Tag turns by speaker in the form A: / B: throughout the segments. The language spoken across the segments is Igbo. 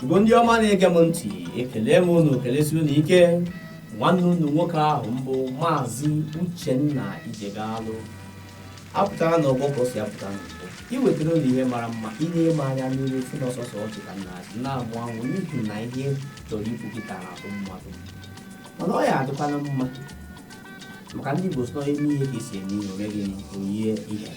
A: bụ ndị ọma na-ege m ntị ekele m unu kelesi unu ike nwanne unu nwoke ahụ mbụ maazị uchenna ijegalụ apụtara na ọgbọ ka o si apụta n'ọgbọ iwetara unu ihe mara mma ị na-eme anya n'iru si na ọ sọsọ ọchị ka m na-achị na-amụ amụ n'ihi na ihe chọrọ ikwu kịta na-atụ mmadụ mana ọ ya-adịkwana mma maka ndị igbo sị e mee ihe ka e si eme ihe o meghị onye ihe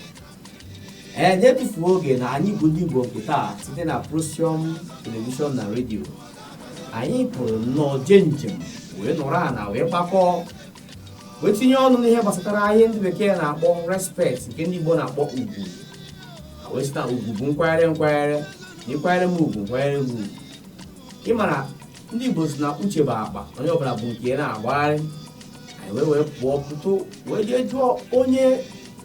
A: ee na-etufuro oge na anyị bụ ndị Igbo nke taa site na Prosium telivishọn na redio anyị pụrụ nnọọ jee njem wee nọrọ ala wee gbakọọ wee tinye ọnụ n'ihe gbasatara ihe ndị bekee na-akpọ respect nke ndị Igbo na-akpọ ugwu ha wee sị na ugwu bụ nkwanyere nkwanyere na ị kwanyere m ugwu m kwanyere gị ugwu ị mara ndị Igbo sị na uche bụ akpa onye ọbụla bu nke ya na-agagharị anyị wee wee pụọ pụtụ wee jee jụọ onye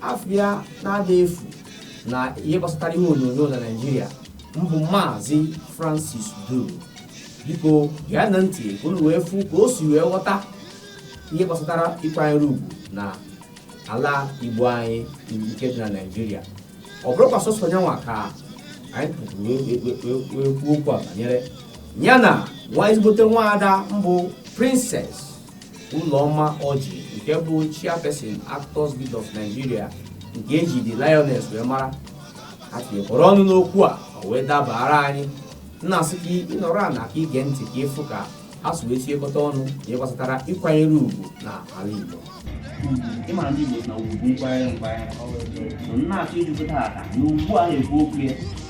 A: afa ya na-ada efu na ihe gbasatara ihe onyonyo na naijiria mbụ maazị francis duru biko geenụ ntị ka unu wee fụ ka o si wee ghọta ihe gbasatara ịkwanyere ugwu na ala igbo anyị nke dị na naijiria ọ bụrọkwa sọsọ nyanwa ka anyị kpọtụrụ wee- wee- wee- wee kwuo okwu a banyere ya na nwa ezigbote nwaada mbụ princess Ụlọma Ọjị nke bụ chairperson Actors Guild of Nigeria nke eji The Lioness wee mara ha tinyekọrọ ọnụ n'okwu a o wee dabara anyị na-asị ka ị nọrọ ana ka i gee ntị ka ị fụ ka ha si wee tinyekọta ọnụ na ihe gbasatara ịkwanyere ugwu na ala Igbo ị mara ndị Igbo na ugwu nkwanyere nkwanyere na-achọ ijupụta aka na ugbu a na-ekwu okwu ya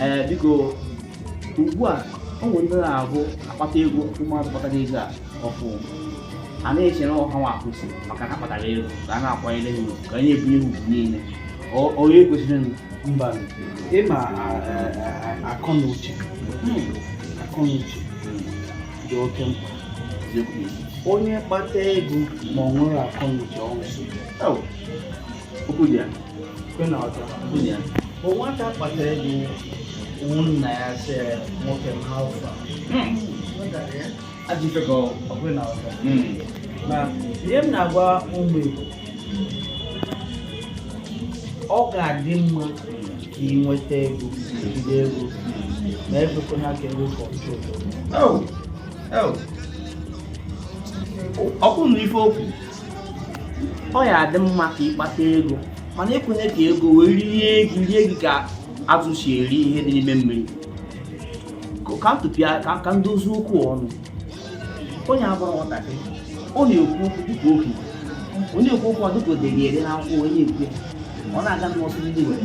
A: ee biko ugbu a o nwere ndị na-abụ a kpata ego ụmụazụ kpatara ego a ọfụ a na-eche na ọ hanwa kwesị maka na ha kpatara ego ka a na-akwanyere ha ugwu ka a na-ebunye ha ugwu niile Ọ- onye kwesịrị
B: mba ị ma akọ na uche akọ na uche dị oke mkpa onye kpata ego ma ọ nwere akọ na uche ọnwụ so bụ nwata kpata ego nna ya sị nwoke m how far na ihe m na-agwa ụmụ Igbo ọ ga-adị mma ka ị nweta ego jide ego ma ekwekwana ka ego
A: controlụọ gị na ife okwu ọ ya adị mma ka ịkpata ego mana ekwenye ka ego wee rie gị rie gị ka azụ si eri ihe dị n'ime mmiri ka ntụpịa ka ndozi okwu ọnụ onye abụrụ nwatakịrị ọ na-ekwu okwu dịka okenye onye ekwu okwu ọ dịka o dere ede na akwụkwọ onye ekwe ọ na-aga n'ọsụ ndị nwere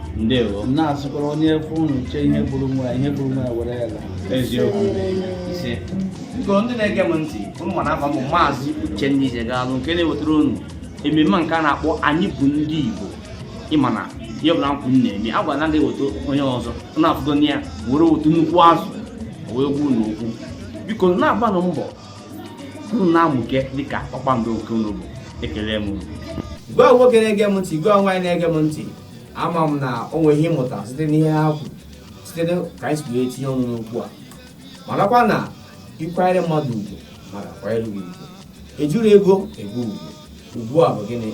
A: ndewo m na-asịkwara
B: onye efe unu uche ihe gburu nwa ihe gburu nwa ya were ya laa
A: eziokwu ise biko ndị na-ege m ntị unu ma na afa m bụ maazị uchenna ijegalụ nke na-ewetara unu ememme nke a na-akpọ anyị bụ ndị igbo ịma na ihe ọbụla nkwụ m na-eme a gwara na ndị eweta onye ọzọ na-afụgo na ya were otu nnukwu azụ wee gwa unu okwu biko na-agbanụ mbọ unu na-amụke dịka kpakpando nke unu bụ ekele m unu gịwa nwoke na-ege m ntị gịwa nwaanyị na-ege m ntị ama m na o nwere ihe ị mụta site n'ihe ha kwuru site na ka anyị si wee tinye ọnụ n'okwu a marakwa na ịkwanyere mmadụ ugwu mmadụ kwanyere gị ugwu ejiro ego ego ugwu ugwu a bụ gịnị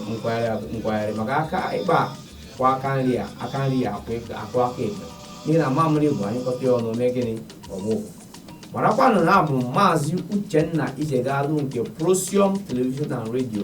A: nkwanyere maka aka ekpe kwọọ aka nri aka nri akwọọ aka- akwọọ aka ekpe n'ihi na mamịrị bụ anyụkọta ya ọnụ mee gịnị ọ gbọọ marakwanụ na abụ m maazị uchenna ijegalụ nke procyom television and radio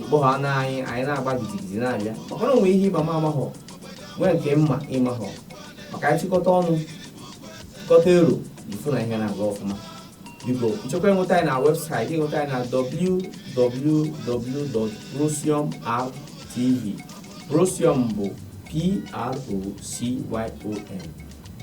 A: ikpọ ha na anyị anyị na-agba gidigidi na-abịa maka na o nwee ihe ị ma m amahọ nwee nke m ma ị mahọ maka anyị chịkọta ọnụ chịkọta ero ị fụ na ihe na-aga ọfụma biko ị chọkwa inweta anyị na website ị nweta anyị na www.procyom.tv procyom bụ p-r-o-c-y-o-m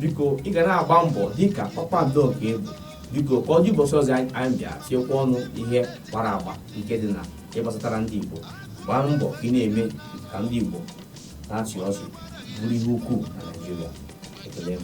A: biko ị ga na-agba mbọ dịka kpakpando nke ị bụ biko ka ọ dị ụbọchị ọzọ anyị anyị bịa tiekwa ọnụ ihe gbara agba nke dị na ihe gbasatara ndị igbo gbaa mbọ ka ị na-eme ka ndị igbo na-achị ọchị bụrụ ihe ukwuu na naijiria ekele m